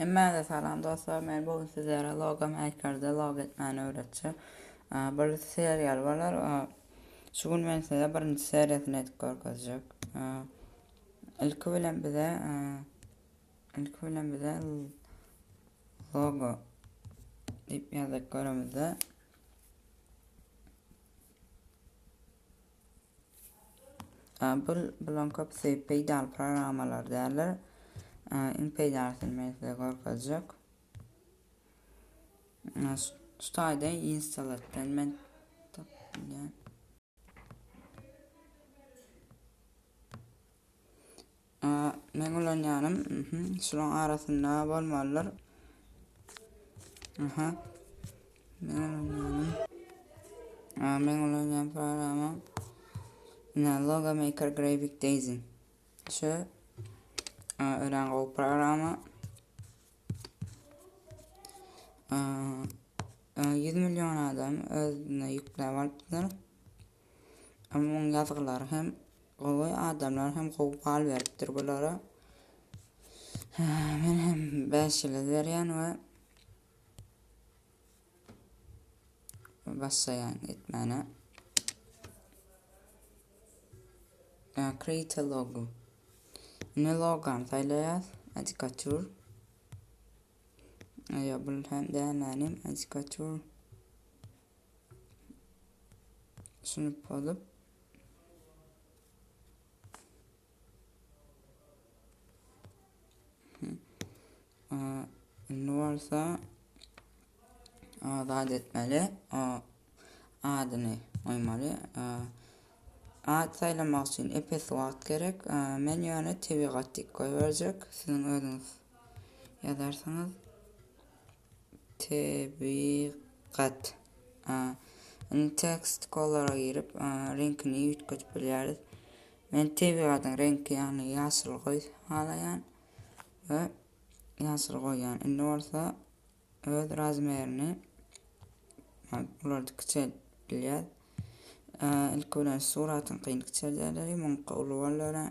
Hemmäňize salam dostlar. Men bu gün sizlere logo makerda logo etmäni öwretjek. Bir seriýal bolar. Şu gün men size birinji seriýasyny edip görkezjek. Ilki bilen bize ilki bilen bize logo diýip ýazdyk göremizde. Apple bulan köpüsi peýdaly programmalar däldir. Iň peýdalysyny men size görkezjek. Tutayda installatdan men tapdym. A meň ulanýanym, mhm, şulaň arasynda bolmalydyr. Aha. Meň ulanýanym. A meň ulanýan programma. Ina Logo Maker Graphic Design. Şu örän gowy programma. 100 milyon adam özüne yükläp alypdyr. Onuň ýazgylary hem gowy, adamlar hem gowy bal beripdir bulara. Men hem 5 ýylyz berýän we başlaýan etmäne. Create a logo. Ne logam saýlaýas? Adikatur. Aýa bul hem dämänim adikatur. Düşünip bolup. Indi bolsa azat etmeli. Adyny goýmaly. Ad saýlamak üçin epes wagt gerek. Men ýöne tebigat diýip goýberjek. Siziň özüňiz ýazarsyňyz. Tebigat. Indi text kolora girip, reňkini üýtgedip bilýäris. Men tebigatyň reňki, ýagny ýaşyl goý halaýan we ýaşyl goýýan. Indi bolsa öz razmerini bulardy kiçeltip bilýär. Ilki bilen suratyňkyny kiçeldeli, muňky uly boldy ölen.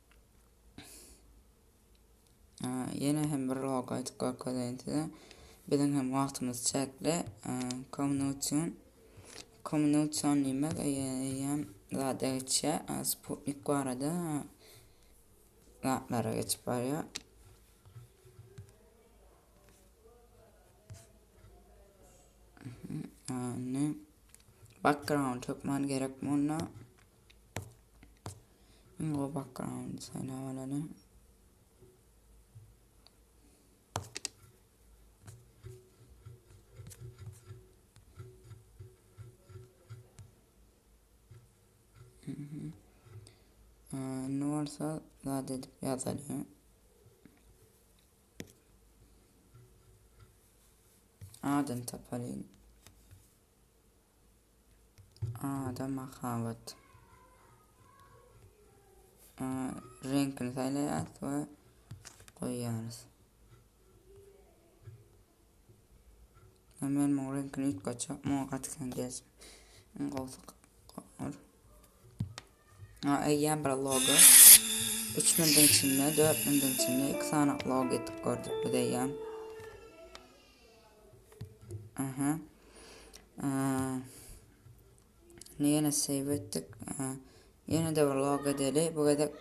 Ýene hem bir log aýdyp görkezeýin size. Biziň hem wagtymyz çäkli. Kommunikasiýon kommunikasiýon diýmek eýýäm zada geçýär. Sputnik barada zatlara geçip barýar. Anne. Background hökman gerek bunda. Indi o background saýlap alaly. Ne olsa zat edip yazalım. Adını tapalım. Ada mahabat. Reňkini saýlaýarys we goýýarys. Hemen muň reňkini üýtgetjek, muňa gaty kän gelsin. Iň gowsy Eýýäm bir logo. Üç minutiň içinde, dört minutiň içinde iki sany logo etip gördük biz eýýäm. Aha. Ne ýene save etdik. Ýene de bir logo edeli. Bu gezek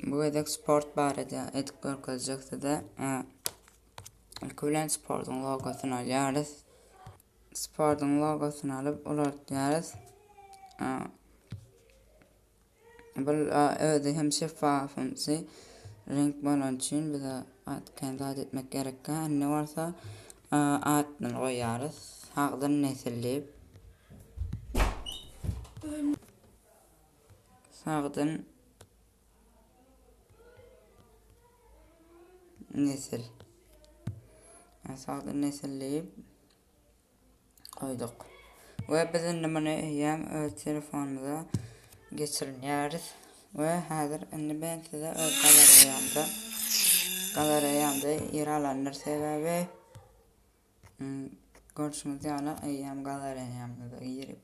bu gezek sport barada edip görkezjek size. İlk bilen sportuň logosunu alýarys. Sportuň logosyny alyp ulaltýarys. Bu özi hem şeffaf ünsi renk bolan üçin bize kän zat etmek gerekkä. Indi bolsa adyny goýýarys. Sagdyn nesil diýip. Sagdyn Nesil. Sagdyn nesil diýip goýduk. We biz indi muny eýýäm öz telefonymyza geçirinýäris. We häzir indi ben size öz galereýamda galereýamda ýer alandyr sebäbi Görşüňiz ýaly, eýýäm galeriýamyza girip,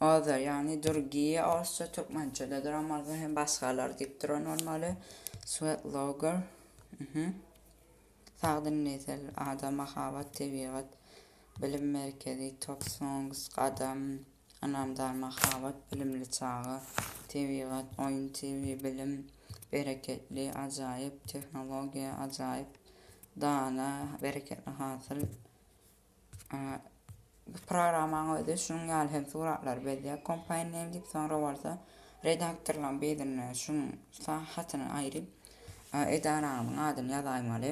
Azar, ýagny Durgiýa, orsça, türkmençe-de duramaly hem başgalar diýip duran bolmaly, Swetlogger, mhm, sagdyn nesil, ada mahabat, tebigat, bilim merkezi, Top Songs, Gadam, Ynamdar mahabat, bilimli çaga, tebigat, oýun TV, bilim, bereketli, ajaýyp, tehnologiýa, ajaýyp, dana, bereketli hasyl. Bu programmaň özi şunuň ýaly hem suratlary bezýär. Kompaýny emjip, soňra bolsa redaktorlaryň birine şunuň hatyny aýryp, edaranyň adyny ýazaýmaly.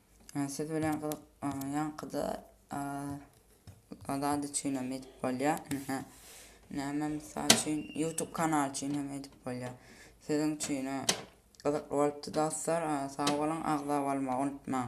Siz bilen gyzyk ýaňkyda zat üçin hem edip bolýar. Näme mysal üçin YouTube kanal üçin hem edip bolýar. Siziň üçin gyzykly bolupdy dostlar. Sag boluň, agza bolmagy unutmaň.